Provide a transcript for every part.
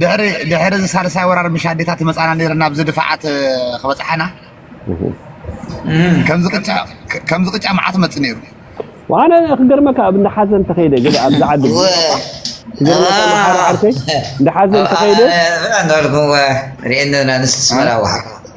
ድሕሪ ድሕሪ እዚ ሳልሳይ ወራር ምሽ ኣዴታት ይመጻና ነይረን ኣብዚ ድፋዓት ክበጽሓና ከምዚ ቅጫ ከምዚ ቅጫ መዓት መጽ ነይሩ ዋነ ክገርመካ ኣብ እንዳ ሓዘን ተኸይደ ገለ ኣብዚ ዓዲ ክገርመካ መሓሪ ዓርከይ እንዳ ሓዘን ተኸይደ እንዳልኩም ሪኤና ንስስመራ ዋሓ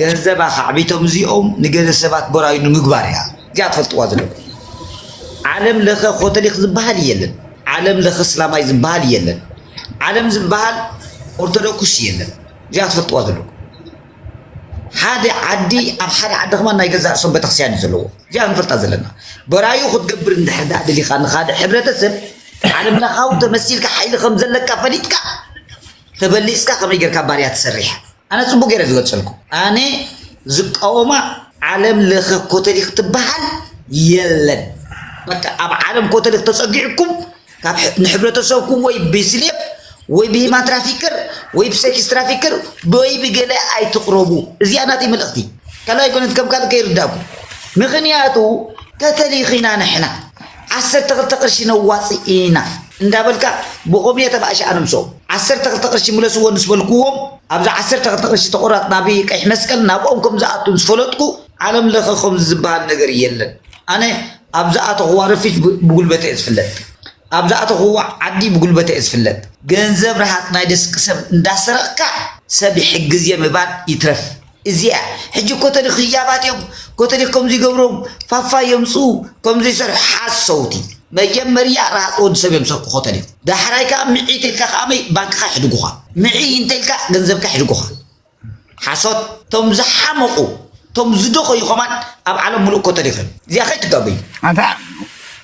ገንዘብ ኣኻዕቢቶም እዚኦም ንገለ ሰባት ቦራዩ ንምግባር እያ እዚኣ ትፈልጥዋ ዘለኹ ዓለም ለኸ ኮተሊክ ዝበሃል የለን ዓለም ለኸ እስላማይ ዝበሃል የለን ዓለም ዝበሃል ኦርቶዶክስ የለን እዚኣ ትፈልጥዋ ዘለኹ ሓደ ዓዲ ኣብ ሓደ ዓዲ ከማ ናይ ገዛእ ርእሶም ቤተክርስትያን እዩ ዘለዎ እዚኣ ንፈልጣ ዘለና ቦራዩ ክትገብር እንድሕር ዳኣ ደሊኻ ንካልእ ሕብረተሰብ ዓለም ለኻዊ ተመሲልካ ሓይሊ ከም ዘለካ ፈሊጥካ ተበሊጽካ ከመይ ጌርካ ባርያ ትሰርሕ ኣነ ጽቡቅ ጌረ ዝገልጸልኩ ኣነ ዝቃወማ ዓለም ለኸ ኮተሊክ ትበሃል የለን በቃ ኣብ ዓለም ኮተሊክ ተጸጊዕኩም ካብ ንሕብረተሰብኩም ወይ ብስሌብ ወይ ብሂማን ትራፊከር ወይ ብሴክስ ትራፊከር ወይ ብገለ ኣይትቅረቡ እዚኣ ናተይ መልእኽቲ ካልኣይ ኮነት ከም ካልእ ከይርዳእኩ ምክንያቱ ከተሊኺና ንሕና ዓሰርተ ክልተ ቅርሺ ነዋጽእ ኢና እንዳበልካ ብኮምየ ተባእሽ ኣነምሶ ዓሰርተ ክልተ ቅርሺ ምለስዎ ንስ በልኩዎም ኣብዛ ዓሰርተ ክልተ ቅርሺ ተቆራጽ ናብ ቀይሕ መስቀል ናብኦም ከም ዝኣቱ ምስ ፈለጥኩ ዓለም ለኸ ከምዚ ዝበሃል ነገር የለን ኣነ ኣብ ዝኣተኹዋ ረፊጅ ብጉልበተይ እየ ዝፍለጥ ኣብ ዝኣተኹዋ ዓዲ ብጉልበተይ እየ ዝፍለጥ ገንዘብ ረሃጽ ናይ ደስቂ ሰብ እንዳሰረቕካ ሰብ ይሕግዝ እየ ምባል ይትረፍ እዚኣ ሕጂ ኮተዲ ክያባት እዮም ኮተዲ ከምዚ ገብሮም ፋፋ የምጽኡ ከምዚ ሰርሑ ሓሰውቲ መጀመርያ ራሃጽ ወዲ ሰብ እዮም ሰርቁ ኮተዲ ዳሕራይ ከኣ ምዒ ተልካ ከኣ መይ ባንክኻ ይሕድጉኻ ምዒ እንተልካ ገንዘብካ ይሕድጉኻ ሓሶት ቶም ዝሓመቑ ቶም ዝደኸዩ ከማን ኣብ ዓለም ሙሉእ ኮተዲ እዮም እዚኣ ከይትጋገዩ ኣንታ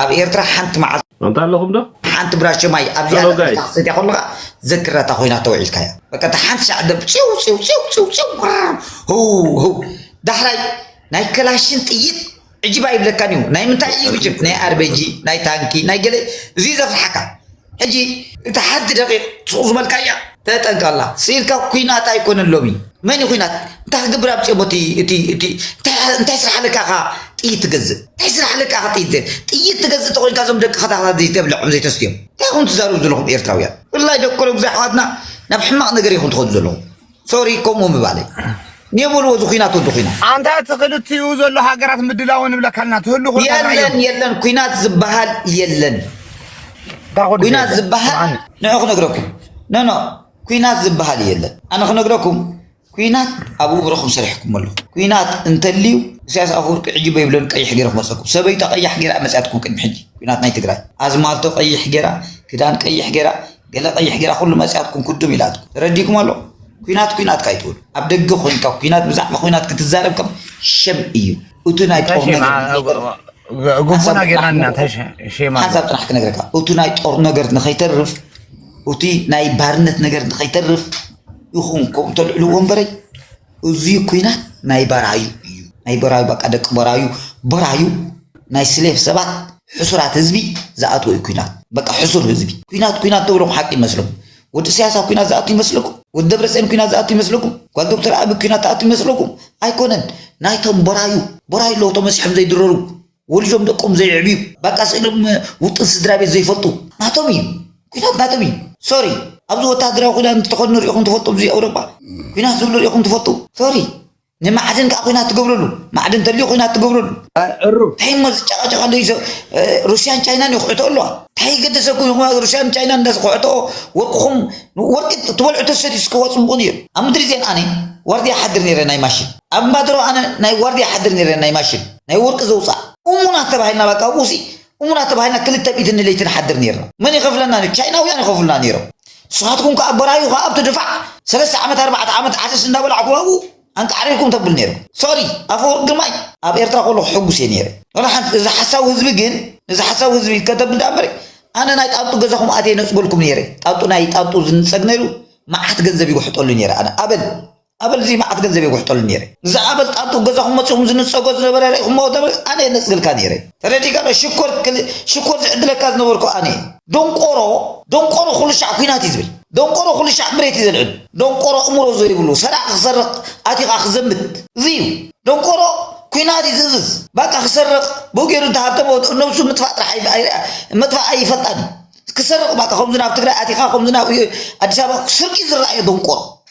ኣብ ኤርትራ ሓንቲ መዓልቲ ኣንታ ኣለኹም ዶ ሓንቲ ብራሸ ማይ ኣብ Hello, ዝያዳ guys. ሒዝካ ክትሰትያ ከለኻ ዘክራታ ኮይና ተውዒልካያ በቃ እታ ሓንቲ ሻዕ ደብ ጭው ጭው ጭው ጭው ጭው ቁራር ህው ህው ዳሕራይ ናይ ከላሽን ጥይት ዕጅብ ኣይብለካን እዩ ናይ ምንታይ እዩ ዕጅብ ናይ ኣርበጂ ናይ ታንኪ ናይ ገለ እዙይ ዘፍርሓካ ሕጂ እታ ሓንቲ ደቂቅ ሱቅዝበልካያ ተጠንቀቃላ ስኢልካ ኩናት ኣይኮነን ሎሚ መን እዩ ኩናት እንታይ ክገብር ኣምጺኦሞ እቲ እቲ እቲ እንታይ ስራሕ ኣለካ ኢኻ ጥይት ትገዝእ እንታይ ስራሕ ኣለካ ኢኻ ጥይት ጥይት ትገዝእ ተኾይንካ እዞም ደቂ ከታክታት ዘይተብልዖም ዘይተስትዮም እንታይ ኢኹም ትዛረቡ ዘለኹም ኤርትራውያን ብፍላይ ደቂ ኮሎምዛ ኣሕዋትና ናብ ሕማቅ ነገር ኢኹም ትኸዱ ዘለኹም ሶሪ ከምኡ ምባለይ ንየበልዎ እዚ ኩናት ወዲ ኩናት ኣንታ እቲ ክልቲኡ ዘሎ ሃገራት ምድላው ንብለካልና ትህሉ ኮ የለን የለን ኩናት ዝበሃል የለን ኩናት ዝበሃል ንዑ ክነግረኩም ኖኖ ኩናት ዝበሃል የለን ኣነ ክነግረኩም ኩናት ኣብ ውብረኹም ሰሪሕኩም ኣለኹ ኩናት እንተልዩ ኢሳያስ ኣፈወርቂ ሕጂ በይብለን ቀይሕ ገይረ ክመፀኩም ሰበይታ ቀያሕ ገይራ መፅያትኩም ቅድሚ ሕጂ ኩናት ናይ ትግራይ ኣዝማልቶ ቀይሕ ገይራ ክዳን ቀይሕ ገይራ ገለ ቀይሕ ጌራ ኩሉ መጺያትኩም ኩድም ኢላትኩም ተረዲኩም ኣሎ ኩናት ኩናት ካይትብሉ ኣብ ደገ ኮንካ ኩናት ብዛዕባ ኩናት ክትዛረብ ከም ሸም እዩ እቱ ናይ ጦር ነገር ጉቡና ጌርና ኢና ተሸማ ሓንሳብ ጥራሕ ክነግረካ እቲ ናይ ጦር ነገር ንኸይተርፍ እቲ ናይ ባርነት ነገር ንኸይተርፍ ይኹን ከምኡ ተልዕልዎ እምበረይ እዙይ ኩናት ናይ በራዩ እዩ ናይ በራዩ በቃ ደቂ በራዩ በራዩ ናይ ስሌፍ ሰባት ሕሱራት ህዝቢ ዝኣትዎ እዩ ኩናት በቃ ሕሱር ህዝቢ ኩናት ኩናት ተብሎም ሓቂ ይመስሎም ወዲ ኢሳያስ ኣብ ኩናት ዝኣቱ ይመስለኩም ወዲ ደብረፅዮን ኩናት ዝኣቱ ይመስለኩም ጓል ዶክተር ኣቢ ኩናት ትኣቱ ይመስለኩም ኣይኮነን ናይቶም በራዩ በራዩ ኣለዉ ተመሲሖም ዘይድረሩ ወሊዶም ደቆም ዘየዕብዩ ባቃ ስእሎም ውጥን ስድራቤት ዘይፈልጡ ናቶም እዩ ኩናት ናቶም እዩ ሶሪ ኣብዚ ወታሃደራዊ ኩዳን ዝተኸድኑ ሪኢኹም ትፈልጡ ኣብዚ ኣውሮጳ ኩናት ዝብሉ ሪኢኹም ትፈልጡ ሶሪ ንማዕድን ከዓ ኩናት ትገብረሉ ማዕድን ተልዩ ኩናት ትገብረሉ እንታይ እሞ ዝጨቃጨቃ ኣሎ ሩስያን ቻይናን ይኩዕቶ ኣለዋ እንታይ ገደሰኩም ይኹማ ሩስያን ቻይናን እንዳዝኩዕትኦ ወርቅኹም ወርቂ ትበልዑ ተሰት ስከዋ ፅቡቕን እዩ ኣብ ምድሪ ዜን ኣነ ዋርድያ ሓድር ነይረ ናይ ማሽን ኣብ ማድሮ ኣነ ናይ ዋርድያ ሓድር ነይረ ናይ ማሽን ናይ ውርቂ ዘውጻእ እሙናት ተባሂልና በቃ ኣብኡሲ እሙናት ተባሂልና ክልተ ምኢትን ለይቲ ንሓድር ኔርና መን ይኸፍለና ኔሩ ቻይናውያን ይኸፍሉና ኔሮም ንስኻትኩም ከኣ በራዩ ከኣ ኣብቲ ድፋዕ ሰለስተ ዓመት ኣርባዕተ ዓመት ዓሰስ እንዳበላዕኩም ኣብኡ ኣንቃዕሪርኩም ተብል ኔሩ ሶሪ ኣፈወርቂ ግርማይ ኣብ ኤርትራ ከለኹ ሕጉስ እየ ኔረ ወላ ሓንቲ እዚ ሓሳዊ ህዝቢ ግን እዚ ሓሳዊ ህዝቢ ከተብል ደኣ እምበሪ ኣነ ናይ ጣንጡ ገዛኹም ኣትየ ነጽገልኩም ኔረ ጣንጡ ናይ ጣንጡ ዝንጸግ ነይሩ መዓት ገንዘብ ይውሕጠሉ ኔረ ኣነ ኣበል ኣበል እዚ መዓት ገንዘብ የጉሕጠሉ ነይረ ንዚ ኣበል ጣንጡ ገዛኩም መጺኩም ዝንጸጎ ዝነበረ ሪኢኩሞ ኣበል ኣነ የነጽግልካ ነይረ ተረዲካ ዶ ሽኮር ሽኮር ዝዕድለካ ዝነበርኩ ኣነ እየ ዶንቆሮ ዶንቆሮ ኩሉ ሻዕ ኩናት እዩ ዝብል ዶንቆሮ ኩሉ ሻዕ ምሬት እዩ ዘልዕል ዶንቆሮ እምሮ ዘይብሉ ሰራቂ ክሰርቅ ኣቲካ ክዘምት እዚ እዩ ዶንቆሮ ኩናት እዩ ዝእዝዝ ባቃ ክሰርቅ ብኡ ገይሩ እንተሃብተሞ ነብሱ ምጥፋእ ጥራሕ መጥፋእ ኣይፈልጣን እዩ ክሰርቅ ባቃ ከምዚ ናብ ትግራይ ኣቲካ ከምዚ ናብ ኣዲስ ኣበባ ስርቂ ዝረኣየ ዶንቆሮ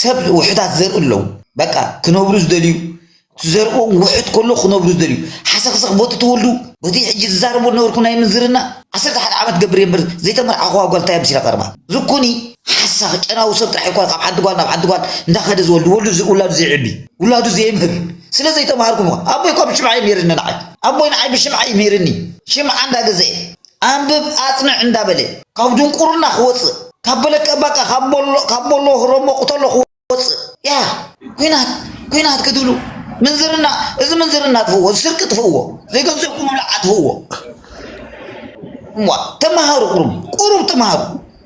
ሰብ ውሑዳት ዘርኢ ኣለዉ በቃ ክነብሩ ዝደልዩ እቲ ዘርኦም ውሑድ ከሎ ክነብሩ ዝደልዩ ሓሰኽሰኽ ቦቲ ተወልዱ ቦቲ ሕጂ ዝዛረቦ ዝነበርኩ ናይ ምንዝርና ዓሰርተ ሓደ ዓመት ገብር እየ እምበር ዘይተመርዓኹዋ ጓል እንታይ እያ መሲላ ቀርባ ዝኩኒ ሓሳኽ ጨናዊ ሰብ ጥራሕ ይኮነ ካብ ሓንቲ ጓል ናብ ሓንቲ ጓል እንዳኸደ ዝወልድ ወልዱ ውላዱ ዘይዕቢ ውላዱ ዘየምህር ስለ ዘይተማሃርኩም ኣቦይ እኳ ብሽምዓ እዩ ነይርኒ ንዓይ ኣቦይ ንዓይ ብሽምዓ እዩ መሂርኒ ሽምዓ እንዳገዘኤ ኣንብብ ኣጽንዕ እንዳበለ ካብ ድንቁርና ክወጽእ ካብ በለቀ ባቃ ካብ ቦሎ ካብ ቦሎ ሮሞ ቅተሎ ክወጽእ ያህ ኩናት ኩናት ክትብሉ ምንዝርና እዚ ምንዝርና ኣጥፍዎ እዚ ስርቂ ጥፍዎ ዘይገንዘብኩም ምብላዕ ኣጥፍዎ እሞ ተማሃሩ ቁሩብ ቁሩብ ተማሃሩ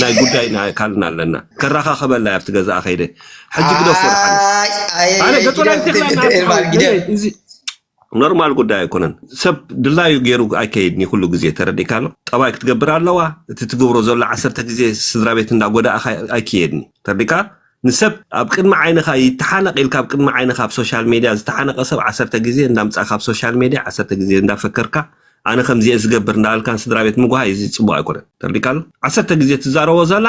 ናይ ጉዳይ ናይ ኣካልና ኣለና ከራኻኸበላ ኣብቲ ገዛኣ ከይደ ሕጂ ግደፎ ድሓነ ኣነ ገጦ ናይ ቴክላ ኖርማል ጉዳይ ኣይኮነን ሰብ ድላዩ ገይሩ ኣይከይድን እዩ ኩሉ ግዜ ተረዲእካ ኣሎ ጠባይ ክትገብር ኣለዋ እቲ ትገብሮ ዘሎ ዓሰርተ ግዜ ስድራ ቤት እንዳጎዳእኻ ኣይክየድን እዩ ተረዲእካ ንሰብ ኣብ ቅድሚ ዓይንኻ ይተሓነቕ ኢልካ ኣብ ቅድሚ ዓይንኻ ኣብ ሶሻል ሜድያ ዝተሓነቐ ሰብ ዓሰርተ ግዜ እንዳምጻእካ ኣብ ሶሻል ሜድያ ዓሰርተ ግዜ እንዳፈከርካ ኣነ ከምዚኤ ዝገብር እንዳበልካን ስድራ ቤት ምጉሃይ እዚ ጽቡቕ ኣይኮነን ተርዲካ ኣሎ ዓሰርተ ግዜ ትዛረቦ ዘላ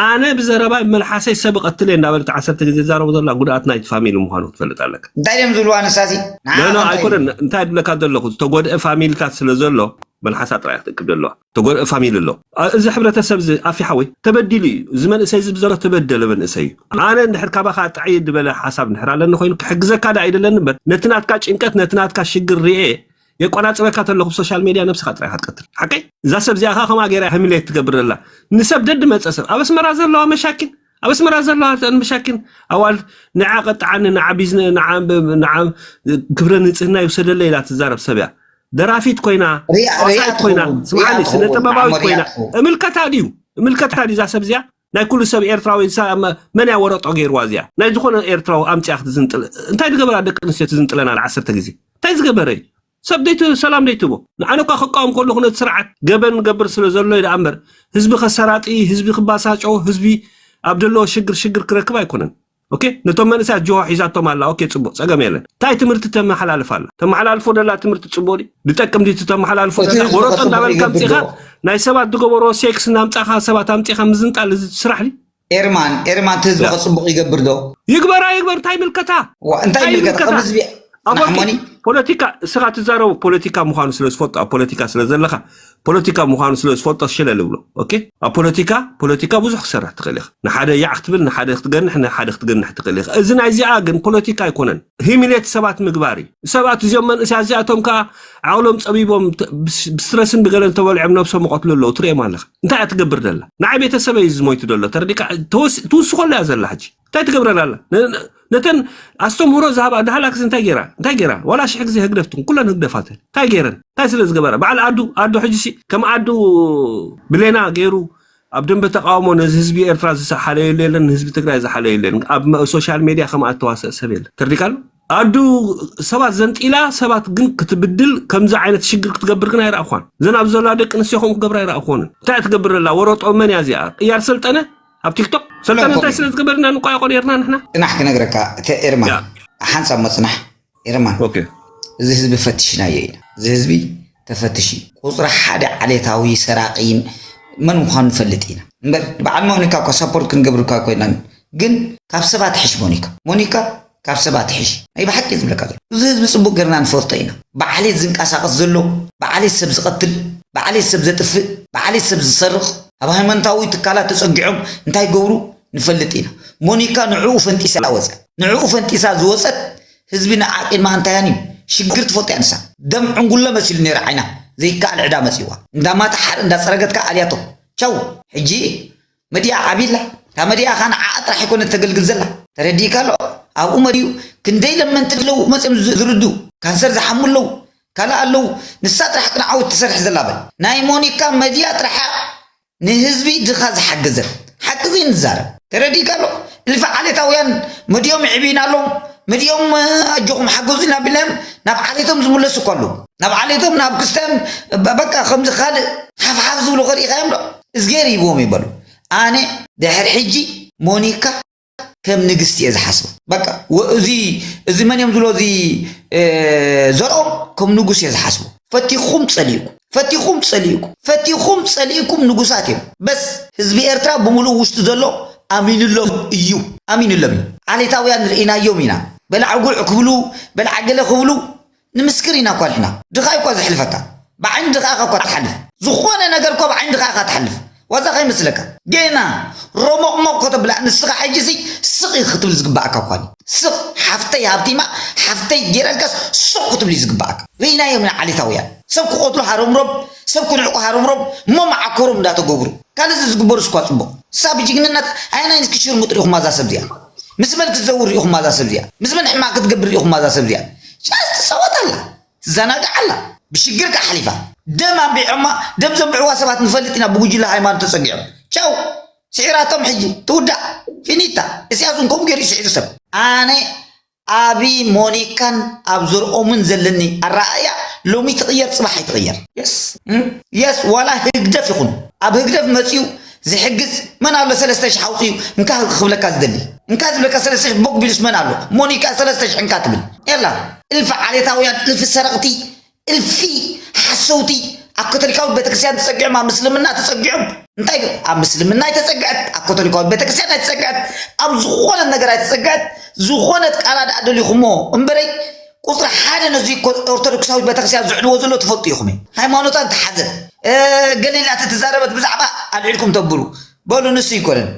ኣነ ብዘረባይ መልሓሰይ ሰብ እቐትል እየ እንዳበለ እቲ ዓሰርተ ግዜ ዝዛረቦ ዘላ ጉድኣት ናይቲ ፋሚሊ ምዃኑ ክትፈልጥ ኣለካ እንታይ ድዮም ዝብልዋ ንሳሲ ኖ ኖ ኣይኮነን እንታይ ድብለካ ዘለኹ ዝተጎድአ ፋሚሊታት ስለ ዘሎ መልሓሳ ጥራይ ክትእክብ ዘለዋ ተጎድእ ፋሚሊ ኣሎ እዚ ሕብረተሰብ እዚ ኣፊ ሓወይ ተበዲሉ እዩ እዚ መንእሰይ እዚ ብዘሎ ተበደለ መንእሰይ እዩ ኣነ እንድሕር ካባኻ ጥዕይ ዝበለ ሓሳብ እንድሕር ኣለኒ ኮይኑ ክሕግዘካ ዳ ኣይደለኒ እምበር ነቲ ናትካ ጭንቀት ነቲ ናትካ ሽግር ርኤ የቆናጽበካ ተለኹ ብሶሻል ሜድያ ነብስኻ ጥራይ ኢኻ ትቀትል ሓቀይ እዛ ሰብ እዚኣ ከምኣ ገይራ ህምሌት ትገብር ዘላ ንሰብ ደድመጸ ሰብ ኣብ ኣስመራ ዘለዋ መሻኪን ኣብ ኣስመራ ዘለዋ እተን መሻኪን ኣዋልድ ንዓ ቀጥዓኒ ንዓ ቢዝነ ንዓ ንዓ ክብረ ንጽህና ይውሰደለ ኢላ ትዛረብ ሰብ እያ ደራፊት ኮይና ሪኣ ሪኣ ተዋሳኢት ኮይና ትኸውን ሪኣ ስምዓኒ ስነ ትኸውን ጥበባዊት ንዓመር ሪኣ ኮይና ትኸውን እምልከታ ድዩ እምልከታ ድዩ እዛ ሰብ እዚኣ ናይ ኩሉ ሰብ ኤርትራዊ እሳ መ- መን እያ ወረጦ ገይርዋ እዚኣ ናይ ዝኾነ ኤርትራዊ ኣምፅኣ ክትዝንጥል እንታይ ዝገበራ ደቂ ኣንስትዮ ትዝንጥለን ኣለ ዓሰርተ ግዜ እንታይ ዝገበረ እዩ ሰብ ደይት ሰላም ደይትህቦ ንዓነ እኳ ክቃወም ከለኩ ነቲ ስርዓት ገበን ንገብር ስለ ዘሎ እየ ደኣ እምበር ህዝቢ ከሰራጢ ህዝቢ ክባሳጮ ህዝቢ ኣብ ደለዎ ሽግር ሽግር ክረክብ ኣይኮነን ኦኬ ነቶም መንእሰያት ጅሆ ሒዛቶም ኣላ ኦኬ ጽቡቅ ጸገም የለን እንታይ ትምህርቲ ተመሓላልፍ ኣላ ተመሓላልፎ ደላ ትምህርቲ ጽቡቅ ድዩ ድጠቅም ድዩ ተመሓላልፎ እቲ ደላ ህዝቢ ወረጦ ከስምዕ እንዳበልካ ይገብር ኣምጺኻ ዶ ናይ ሰባት ዝገበሮ ሴክስ እናምጻኻ ሰባት ኣምጺኻ ምዝንጣል እዚ ስራሕ ድዩ ኤርማን ኤርማን እቲ ህዝቢ ከፅቡቅ ይገብር ዶ ይግበራ ይግበር እንታይ ምልከታ እንታይ ምልከታ ከም ህዝቢ ናሕሞኒ ፖለቲካ እስኻ ትዛረቡ ፖለቲካ ምዃኑ ስለ ዝፈልጦ ኣብ ፖለቲካ ስለ ዘለኻ ፖለቲካ ምዃኑ ስለ ዝፈልጦ ሽለ ልብሎ ኦኬ ኣብ ፖለቲካ ፖለቲካ ብዙሕ ክሰርሕ ትኽእል ኢኻ ንሓደ ያዕ ክትብል ንሓደ ክትገንሕ ንሓደ ክትገንሕ ትኽእል ኢኻ እዚ ናይዚኣ ግን ፖለቲካ ኣይኮነን ሂሚሌት ሰባት ምግባር እዩ ሰባት እዚኦም መንእስያ እዚኣቶም ከዓ ዓቕሎም ጸቢቦም ተ- ብስ- ብስትረስን ብገለን ተበልዖም ነብሶም ይቐትሉ ኣለዉ ትርእዮም ኣለኻ እንታይ እያ ትገብር ደላ ንዓይ ቤተሰበ እዩ ዝሞይቱ ደሎ ተረዲካ ተወስ- ትውስኸሉ እያ ዘላ ሕጂ እንታይ ትገብረን ኣላ ነ- ነ- ነተን ኣስተምህሮ ዝሃባ ዳህላክስ እንታይ ገይራ እንታይ ገይራ ዋላ ሽሕ ግዜ ህግደፍ ትኹን ኩለን ህግደፋት እየን። እንታይ ገይረን እንታይ ስለ ዝገበራ በዓል ኣዱ ኣዱ ሕጂ ሲ ከም ኣዱ ብሌና ገይሩ ኣብ ደንበ ተቃውሞ ነዚ ህዝቢ ኤርትራ ዝሓለየሉ የለን ንህዝቢ ትግራይ ዝሓለየሉ የለን ኣብ መ- ሶሻል ሜድያ ከምኣ እተዋሰእ ሰብ የለን ተርዲካሉ ኣዱ ሰባት ዘንጢላ ሰባት ግን ክትብድል ከምዚ ዓይነት ሽግር ክትገብር ግን ኣይረኣኳን ዘን ኣብ ዘላ ደቂ ኣንስትዮ ከምኡ ክገብር ኣይረኣኮንን እንታይ እያ ትገብር ዘላ ወረጦ መን እያ እዚኣ ቅያር ሰልጠነ ኣብ ቲክቶክ ሰልጠነ እንታይ ስለ ዝገበር ኢና ንቋየቆ ነርና ንሕና ጽናሕ ክነግረካ እተ ኤርማን ያ ሓንሳብ መጽናሕ ኤርማን ኦኬ እዚ ህዝቢ ፈትሽናዮ ኢና እዚ ህዝቢ ተፈትሽ እዩ ቁፅሪ ሓደ ዓሌታዊ ሰራቂ መን ምዃኑ ንፈልጥ ኢና እምበር በዓል ሞኒካ እኳ ሳፖርት ክንገብርካ ኮይና ግን ካብ ሰባት ሕሽ ሞኒካ ሞኒካ ካብ ሰብ ኣትሒሽ ናይ ብሓቂ እየ ዝብለካ ዘለኩ እዚ ህዝቢ ጽቡቅ ገርና ንፈልጦ ኢና ብዓሌት ዝንቃሳቀስ ዘሎ ብዓሌት ሰብ ዝቀትል ብዓሌት ሰብ ዘጥፍእ ብዓሌት ሰብ ዝሰርቅ ኣብ ሃይማኖታዊ ትካላት ተጸጊዖም እንታይ ይገብሩ ንፈልጥ ኢና ሞኒካ ንዕኡ ፈንጢሳ ወጸ ንዕኡ ፈንጢሳ ዝወጸት ህዝቢ ንዓ ቂድማ ኣንታያን እዩ ሽግር ትፈልጦ እያ ንሳ ደም ዕንጉለ መሲሉ ነይሩ ዓይና ዘይከኣል ዕዳ መጺዋ እንዳማታ ሓር እንዳጸረገት ከኣ ኣልያቶ ቻው ሕጂ መዲኣ ዓቢ ኣላ እታ መዲኣ ከኣ ንዓኣ ጥራሕ ኣይኮነት ተገልግል ዘላ ተረዲእካ ኣሎ ኣብኡ መዲኡ ክንደይ ለመንቲ ኣለዉ መጽዮም ዝርዱ ካንሰር ዝሓሙ ኣለዉ ካልእ ኣለዉ ንሳ ጥራሕ ቅን ዓወት ትሰርሕ ዘላ በል ናይ ሞኒካ መዲኣ ጥራሓ ንህዝቢ ድኻ ዝሓገዘት ሓቂ ዘይንዛረብ ተረዲእካ ኣሎ እልፊ ዓሌታውያን መዲኦም ይዕብዩና ኣለዉ መዲኦም ኣጆኹም ሓገዙና ቢልናዮም ናብ ዓሌቶም ዝምለሱ እኳ ኣለዉ ናብ ዓሌቶም ናብ ክስታዮም በቃ ከምዚ ካልእ ሓፍሓፍ ዝብሉ ከሪእኻዮም ዶ እዝጌር ሂብዎም እዩ በሉ ኣነ ድሕር ሕጂ ሞኒካ ከም ንግስቲ እየ ዝሓስባ በቃ እዚ እዚ መን እዮም ዝብሎ እዚ ዘርኦም ከም ንጉስ እየ ዝሓስቡ ፈቲኹም ጸሊእኩ ፈቲኹም ጸሊእኩ ፈቲኹም ጸሊእኩም ንጉሳት እዮም በስ ህዝቢ ኤርትራ ብምሉእ ውሽጡ ዘሎ ኣሚንሎም እዩ ኣሚንሎም እዩ ዓሌታውያን ርኢናዮም ኢና በላዕጉዕ ክብሉ በላዕገለ ክብሉ ንምስክር ኢና እኳ ንሕና ድኻ እዩኳ ዘሕልፈካ ብዓይኒ ድኻኻ እኳ ትሓልፍ ዝኾነ ነገር እኳ ብዓይኒ ድኻ ኢኻ ትሓልፍ ዋዛ ከይመስለካ ጌና ሮሞቕሞቕ ከተብላ ንስኻ ሕጂ ሲ ስቕ እዩ ክትብል ዝግባኣካ እኳ እዩ ስቕ ሓፍተይ ሃብቲማ ሓፍተይ ጌረልካስ ሱቕ ክትብል እዩ ዝግባኣካ ርኢናዮም ኢና ዓሌታውያን ሰብ ክቖትሉ ሃረምሮም ሰብ ክንዕቁ ሃረምሮም እሞ መዓኮሮም እንዳተገብሩ ካልእ ዝዝግበሩስ እኳ ጽቡቕ ንሳ ብጅግንነት ኣየናይ ንስኪ ሽርሙጥ ርኢኹማ እዛ ሰብ እዚኣ ምስ መን ክትዘውር ሪኢኹማ እዛ ሰብ እዚኣ ምስ መን ሕማቅ ክትገብር ሪኢኹማ እዛ ሰብ እዚኣ ጫስ ትጻወት ኣላ ትዛናግዕ ኣላ ብሽግር ከኣ ሓሊፋ ደም ኣንቢዖማ ደም ዘንብዕዋ ሰባት ንፈልጥ ኢና ብጉጅለ ሃይማኖት ተጸጊዖም ቻው ስዒራቶም ሕጂ ትውዳእ ፊኒታ እስያስ እውን ከምኡ ገይሩ እዩ ስዒሩ ሰብ ኣነ ኣብ ሞኒካን ኣብ ዘርኦምን ዘለኒ ኣረኣእያ ሎሚ ትቕየር ጽባሕ ኣይትቕየር የስ የስ ዋላ ህግደፍ ይኹን ኣብ ህግደፍ መጺኡ ዝሕግዝ መን ኣሎ ሰለስተ ሽሕ ኣውጺኡ እንካ ክብለካ ዝደሊ እንካ ዝብለካ ሰለስተ ሽሕ ቦግ ቢሉስ መን ኣሎ ሞኒ ከኣ ሰለስተ ሽሕ እንካ ትብል የላ እልፊ ዓሌታውያን እልፊ ሰረቕቲ እልፊ ሓሰውቲ ኣብ ካቶሊካዊት ቤተክርስትያን ተጸጊዖም ኣብ ምስልምና ተጸጊዖም እንታይ ዶ ኣብ ምስልምና ኣይተጸግዐት ኣብ ካቶሊካዊት ቤተክርስትያን ኣይተጸግዐት ኣብ ዝኾነት ነገር ኣይተጸግዐት ዝኾነት ቃላ ደኣ ደሊኹሞ እምበረይ ቁፅሪ ሓደ ነዙይ ኦርቶዶክሳዊት ቤተክርስቲያን ዝዕልዎ ዘሎ ትፈልጡ ኢኹም እዩ ሃይማኖታ እንተሓዘ ገሌላ ተተዛረበት ብዛዕባ ኣልዒልኩም ተብሉ በሉ ንሱ ይኮነን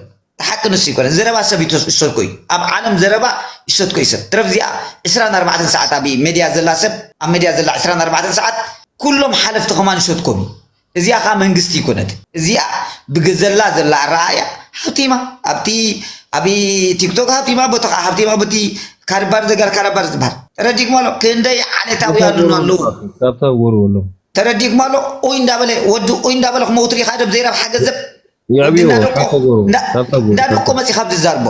ሓቂ ንሱ ይኮነን ዘረባ ሰብ ይሰድኮ እዩ ኣብ ዓለም ዘረባ ይሰድኮ እዩ ሰብ ትረፍ እዚኣ 24 ሰዓት ኣብ ሜድያ ዘላ ሰብ ኣብ ሜድያ ዘላ 24 ሰዓት ኩሎም ሓለፍቲ ከማን ይሰድኮም እዩ እዚኣ ከኣ መንግስቲ ኣይኮነት እዚኣ ብገዘላ ዘላ ኣረኣእያ ሃብቲማ ኣብቲ ኣብ ቲክቶክ ሃብቲማ ቦቲ ከኣ ሃብቲማ ቦቲ ካርባር ዘጋር ካራባር ዝበሃል ተረዲእኩም ኣሎ ክንደይ ዓሌታውያን ኣለዉ ካብታ ወሩ ኣሎ ተረዲእኩም ኣሎ ኡይ እንዳበለ ወዲ ኡይ እንዳበለ ክመውት ሪኢኻ ደብ ዘይረብሓ ገንዘብ የዕብዮ ካብታ ወሩ ካብታ ወሩ እንዳደቆ መፂኻ ኣብዚ ዛርቦ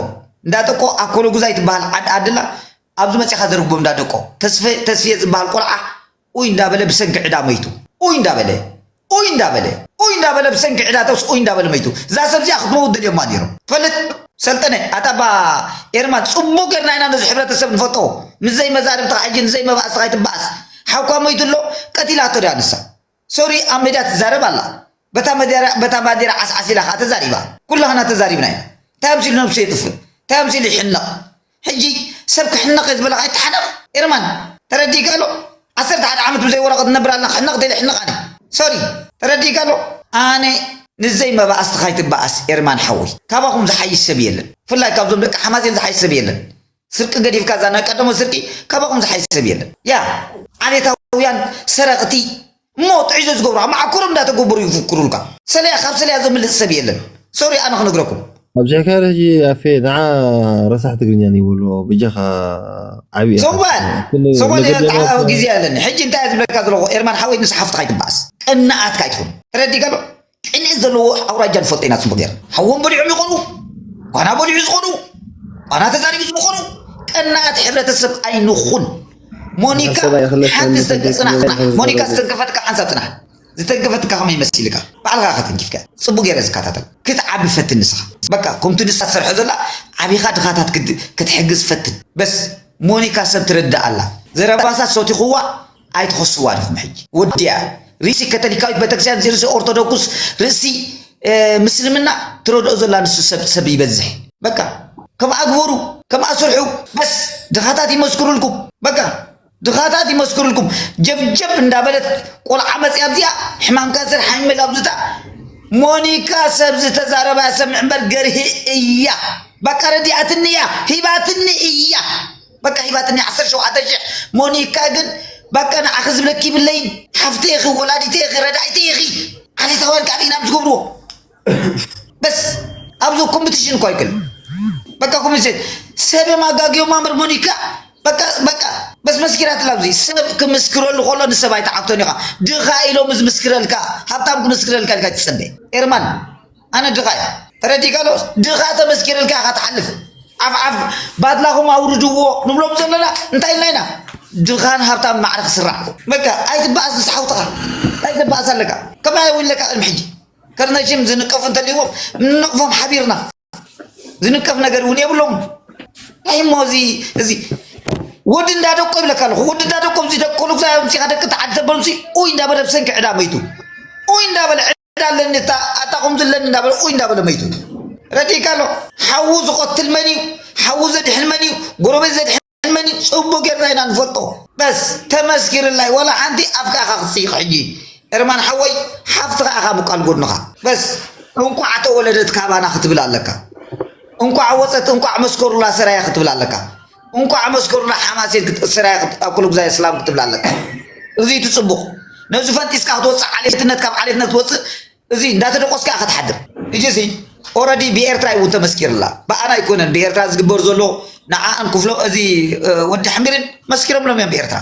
እንዳደቆ ኣብ ኮሎጉዛይ ትበሃል ዓዲ ኣድላ ኣብዚ መፂኻ ዘርግቦም እንዳደቆ ተስፌ ተስፌ ዝበሃል ቆልዓ ኡይ እንዳበለ ብሰንኪ ዕዳ መይቱ ኡይ እንዳበለ ኡይ እንዳበለ ኡይ እንዳበለ ብሰንኪ ዕዳተስ ኡይ እንዳበለ መይቱ እዛ ሰብ እዚኣ ክትመውት ደልዮማ ኔሮም ትፈልጥ ሰልጠነ ኣታ እባ ኤርማን ጽቡቅ ጌርና ኢና ነዚ ሕብረተሰብ ንፈልጦ ምስ ዘይ መዛርብትኻ ሕጂ ንዘይ መባእስትኻ ኣይትባኣስ ሓውካ መይቱ ኣሎ ቀቲላቶ ድያ ንሳ ሶሪ ኣብ መድያ ትዛረብ ኣላ በታ መድያ በታ ባንዴራ ዓስዓስ ኢላ ከኣ ተዛሪባ ኩላህና ተዛሪብና ኢና እንታይ ኣምሲሉ ነብሱ የጥፍእ እንታይ ኣምሲሉ ይሕነቕ ሕጂ ሰብ ክሕነቕ እየ ዝበለካ ኣይትሓነቕ ኤርማን ተረዲእካ ኣሎ ዓሰርተ ሓደ ዓመት ብዘይ ወረቐት ንነብር ኣለና ክሕነቕ እንተኢለ ይሕነቕ ኣነ ሶሪ ተረዲእካ ኣሎ። ኣነ ንዘይ መባኣስትካ ኣይትባኣስ ኤርማን ሓወይ ካባኩም ዝሓይሽ ሰብ የለን ብፍላይ ካብዞም ደቂ ሓማሴን ዝሓይሽ ሰብ የለን ስርቂ ገዲፍካ እዛ ናይ ቀደሞት ስርቂ ካባኩም ዝሓይሽ ሰብ የለን ያ ዓሌታውያን ሰረቅቲ ሞት ሒዞ ዝገብሩ ኣብ መዓኮሮም እንዳተጎበሩ ይፉኩሩልካ ሰለያ ካብ ሰለያ ዘምልጥ ሰብ የለን ሶሪ ኣነ ክነግረኩም ኣብዚሐ ከ ሕጂ ኣፌ ንዓ ረሳሕ ትግርኛ ንይበሎ በጃኻ ዓብይ ሰዋል ሰዋል ግዜ ኣለኒ ሕጂ እንታይ ዝብለካ ዘለኹ ኤርማን ሓወይ ምስ ሓፍትኻ ይትበኣስ ቅናኣትካ ኣይትኹን ተረዲእካ ዶ ቅንኢ ዘለዎ ኣውራጃ ንፈልጦ ኢና ፅቡቅ ጌርና ሓዎም በሊዖም ይኾኑ ኳና በሊዑ ዝኾኑ ኳና ተዛሪቡ ዝኾኑ ቀናኣት ሕብረተሰብ ኣይንኹን ሞኒካ ሓሰባ ይኽለስ ሓንቲ ከምኒ ዝተንከ ጽናሕ ጽናሕ ተንከፍ ዝበለ ሞኒካ ዝገብር። ዝተንከፈትካ ሓንሳብ ጽናሕ ዝተንከፈትካ ከመይ መሲልካ ባዕልኻ ከተንኪፍካ ጽቡቅ ገይረ ዝከታተል ክትዓቢ ፈትን ንስኻ በቃ ከምቲ ንሳ ትሰርሖ ዘላ ዓቢኻ ድኻታት ክት- ክትሕግዝ ፈትን በስ ሞኒካ ሰብ ትርዳእ ኣላ ዘረባሳ ሰቲኹዋ ኣይትኸስዋ ድኹም ሕጂ ወዲኣ ርእሲ ከተሊካዊት ቤተክርስትያን ርእሲ ኦርቶዶክስ ርእሲ ምስልምና ትረድኦ ዘላ ንሱ ሰብ ሰብ ይበዝሕ በቃ ከምኣ ግበሩ ከምኣ ስርሑ በስ ድኻታት ይመስክሩልኩም በቃ ድኻታት ይመስክሩልኩም ጀብጀብ እንዳበለት ቆልዓ መፅያ ኣብዚኣ ሕማም ካንሰር ሓሚመል ኣብዝታ ሞኒካ ሰብ ዝተዛረባ ሰምዕ እምበር ገርሂ እያ በቃ ረዲኣትኒ እያ ሂባትኒ እያ በቃ ሂባትኒ ዓሰርተ ሸውዓተ ሽሕ ሞኒካ ግን በቃ ንዓኺ ዝብለኪ ይብለይን ሓፍተ ኢኺ ወላዲተ ኢኺ ረዳኢተ ኢኺ ዓሌታውያን ካብ ኢና ዝገብርዎ በስ ኣብዞ ኮምፒቲሽን እኳ ይክል በቃ ኮምፒቲሽን ሰብ የማጋግዮ ማምር ሞኒካ በቃ በቃ በስ መስኪራት ላብዚ ሰብ ክምስክረሉ ከሎ ንሰብ ኣይተዓግቶን ኢኻ ድኻ ኢሎም ዝምስክረልካ ሃብታም ክምስክረልካ ኢልካ ትፅበ ኤርማን ኣነ ድኻ እየ ተረዲእካ ዶ ድኻ ተመስኪርልካ ኢኻ ትሓልፍ ዓፍ ዓፍ ባድላኹም ኣውርድዎ ንብሎም ዘለና እንታይ ኢልና ኢና ድኻን ሃብታም ማዕረ ክስራዕ በቃ ኣይትበኣስ ምስ ሓውትኻ እንታይ ዘበኣስ ኣለካ ከመይ ኣይውለካ ቅድሚ ሕጂ ከርነሽም ዝንቀፉ እንተልዎም ንነቕፎም ሓቢርና ዝንቀፍ ነገር እውን የብሎም እንታይ እሞ እዚ እዚ ወዲ እንዳደቆ ይብለካ ኣለኹ ወዲ እንዳደቆ እዚ ደቆ ንጉሳ ምሲኻ ደቂ ተዓድ ዘበሉሲ ኡይ እንዳበለ ብሰንኪ ዕዳ መይቱ ኡይ እንዳበለ ኣታ ኣለኒ እታ ኣታ ከምዚ ኣለኒ እንዳበለ ኡይ እንዳበለ መይቱ ረዲእካ ኣሎ ሓዉ ዝቆትል መን እዩ ሓዉ ዘድሕን መን እዩ ጎረቤት ዘድሕን መን እዩ ፅቡቅ ጌርና ኢና ንፈልጦ በስ ተመስኪርላይ ወላ ሓንቲ ኣፍካ ኢኻ ክትስይቕ ሕጂ እርማን ሓወይ ሓፍትኻ ኢኻ ምቋል ጎድንኻ በስ እንቋዕ ተወለደት ካባና ክትብል ኣለካ እንቋዕ ወፀት እንቋዕ መስከሩላ ሰራያ ክትብል ኣለካ እንቋዕ መስከሩላ ሓማሴን ክትእሰር እያ ኣኩሉጉዛይ እስላም ክትብላ ኣለካ እዚ እቲ ጽቡቕ ነዚ ፈንጢስካ ክትወጽእ ዓሌትነት ካብ ዓሌትነት ክትወጽእ እዚ እንዳተደቆስካ እያ ክትሓድር እጂ እዚ ኦረዲ ብኤርትራ ይውን ተመስኪርላ ብኣና ኣይኮነን ብኤርትራ ዝግበር ዘሎ ንዓኣን ክፍሎ እዚ ወዲ ሕምቢርን መስኪሮምሎም እዮም ብኤርትራ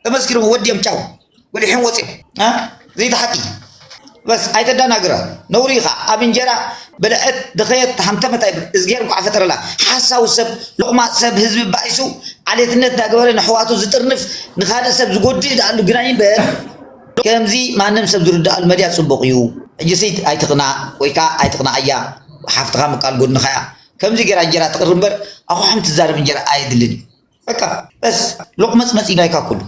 ተመስኪርዎ ወዲኦም ጫው በሊሖም ወፂኦም ዘይተሓቂ በስ ኣይተዳናግረ ነውሪ ኢኻ ኣብ እንጀራ በልዐት ድኸየት ተሃምተመት ኣይብል እዝጌር እንኳዕ ፈጠረላ ሓሳዊ ሰብ ሎቕማ ሰብ ህዝቢ ባኢሱ ዓሌትነት ዳገበረ ንሕዋቱ ዝጥርንፍ ንካልእ ሰብ ዝጎድእ ዳኣሉ ግና ይንበር ከምዚ ማንም ሰብ ዝርዳኣሉ መድያ ፅቡቕ እዩ ሕጂ ስይት ኣይትቕና ወይ ከዓ ኣይትቕና ኣያ ሓፍትኻ ምቃል ጎድንኻ እያ ከምዚ ገይራ እንጀራ ትቕርብ እምበር ኣኹሕም ትዛረብ እንጀራ ኣየድልን እዩ በቃ በስ ሎቅመፅመፅ ይዳይካ ኩሉ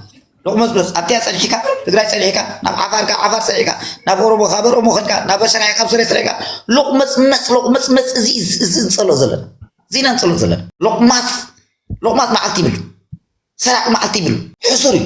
ሎቅመፅመፅ ኣብቲያ ፀኒሕካ ትግራይ ፀኒሕካ ናብ ዓፋር ካብ ዓፋር ፀኒሕካ ናብ ኦሮሞ ካብ ኦሮሞ ከድካ ናብ ሰራያ ካብ ስረ ስረካ ሎቅመፅመፅ ሎቅመፅመፅ እዚ እዚ ንፀሎ ዘለና እዚ ኢና ንፀሎ ዘለና ሎቅማፅ ሎቅማፅ መዓልቲ ይብሉ ሰራቂ መዓልቲ ይብሉ ሕሱር እዩ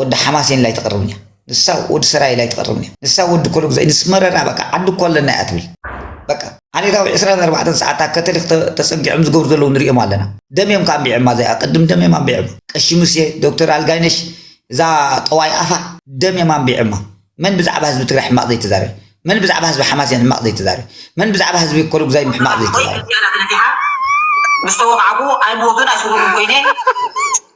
ወዲ ሓማሴን ላይ ትቅርብኛ ንሳ ወዲ ሰራይ ላይ ትቅርብኛ ንሳ ወዲ ኮሎጉ ዘይ ንስመረና በቃ ዓዲ እኮ ኣለና እያ ትብል በቃ ዓሌታዊ 24 ሰዓታ ከተሊክ ተጸጊዖም ዝገብሩ ዘለዉ ንሪኦም ኣለና ደም እዮም ካንቢዕማ ዘይ ኣቀድም ደም እዮም ኣንቢዕማ ቀሺ ሙሴ ዶክተር ኣልጋይነሽ እዛ ጠዋይ ኣፋ ደም እዮም ኣንቢዕማ መን ብዛዕባ ህዝቢ ትግራይ ሕማቅ ዘይተዛረበ መን ብዛዕባ ህዝቢ ሓማሴን ሕማቅ ዘይተዛረበ መን ብዛዕባ ህዝቢ ኮሎጉዛይ ሕማቅ ዘይተዛረበ ምስ ተወቃዕኩ ኣይምወግን ኣይስጉምን ኮይነ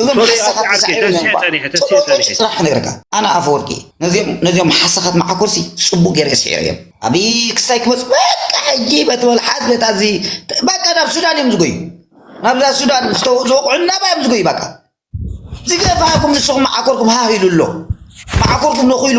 እዞም ሶሪ ሓሳኻት ኣብቲ ዓርኪ ተሳዒሮም ተንስሐ እዮም ጸኒሐ ተንስሐ ጽቡቕ ጸኒሐ ስራሕ ክነግረካ ኣነ ኣፈወርቂ ነዚኦም ነዚኦም ሓሳኻት መዓኮርሲ ጽቡቕ ገይረ ስዒረ እዮም ኣብይ ክሳይ ክመጽ በቃ ሕጂ በቲ መልሓስ በታ እዚ በቃ ናብ ሱዳን እዮም ዝጎዩ ናብዛ ሱዳን ዝተወ- ዝወቕዑ ናባ እዮም ዝጎዩ በቃ ዝገፋኩም ንስኹም መዓኮርኩም ሃህ ኢሉ ኣሎ መዓኮርኩም ነኺሉ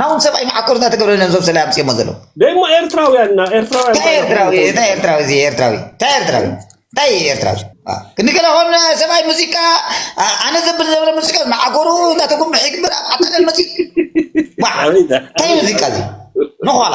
ናውን ሰብኣይ መዓኮር እናተገብረለን እዞም ሰለ ኣምፅኦሞ ዘለዉ ደሞ ኤርትራውያን እና ኤርትራውያን እንታይ ኤርትራዊ እንታይ ኤርትራዊ እዚ ኤርትራዊ እንታይ ኤርትራዊ እንታይ ኤርትራዊ ክንገለ ኮን ሰብኣይ ሙዚቃ ኣ- ኣነ ዘብል ዘብለ ሙዚቃ መዓኮሩ እናተጎምሐ ይግበር ኣብ ዓጣለን መፂ ዋ እንታይ ሙዚቃ እዚ ንኋላ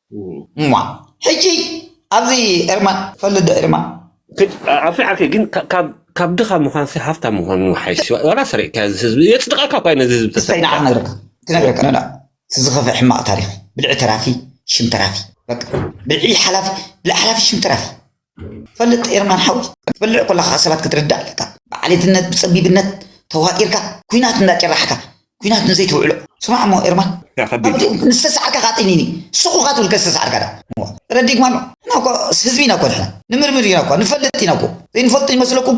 እማ ሕጂ ኣብዚ ኤርማ ትፈልጥ ዶ ኤርማ። ኣፊ ዓርከይ ግን ካብ ድኻ ምዃንሲ ሃፍታም ምዃን ይሓይሽ ዋላ ሰሪቕካዮ እዚ ህዝቢ የጽድቐካ እኳ እዩ ነዚ ህዝቢ እስታይ ንዓ ተሰሪቕካ ክነግረካ ክነግረካ ንዓ እቲ ዝኸፍእ ሕማቕ ታሪኽ ብልዒ ተራፊ ሽም ተራፊ በቃ ብልዒ ሓላፊ ብልዒ ሓላፊ ሽም ተራፊ ፈልጥ ኤርማን ሓወይ ክትበልዕ ኮለኻ ሰባት ክትርዳእ ኣለካ ብዓሌትነት ብጸቢብነት ተዋጢርካ ኩናት እንዳ ጭራሕካ ኩናት ንዘይ ትውዕሎ ስማዕ እሞ ኤርማን ንዝተሰዓርካ ከኣ ጠይኒኒ ስኹኻ ትብል ከዝተሰዓርካ ዳ ረዲግማ ኣሎ እና እኳ ህዝቢ ኢና እኳ ንሕና ንምርምር ኢና እኳ ንፈልጥ ኢና እኮ ዘይንፈልጡ ይመስለኩም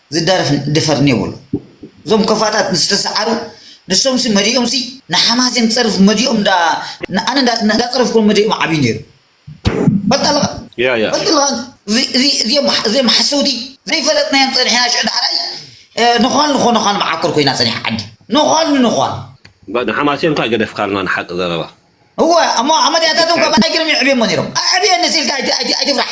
ዝዳረፍ ድፈር ኔብሉ እዞም ከፋታት ዝተሳዓሩ ንሶምሲ መዲኦምሲ ንሓማሴን ጸርፍ መዲኦም ዳኣ ንኣነ እንዳጸረፍኩም መዲኦም ዓብዩ ኔሩ ፈልጥ ኣለካ ፈልጥ ኣለካ እዚኦም ሓሰውቲ ዘይፈለጥናዮም ጸኒሕና ሽዑ ዳሕራይ ንዃል ንኾነዃል መዓኮር ኮይና ጸኒሓ ዓዲ ንዃል ንዃል ንሓማሴን እኳ ገደፍካልና ንሓቂ ዘረባ እወ እሞ ኣመድያታቶም ካብ ኣይ ገይሮም እዮም ኣዕብዮሞ ነይሮም ኣዕብየኒ ሲልካ ኣይትፍራሕ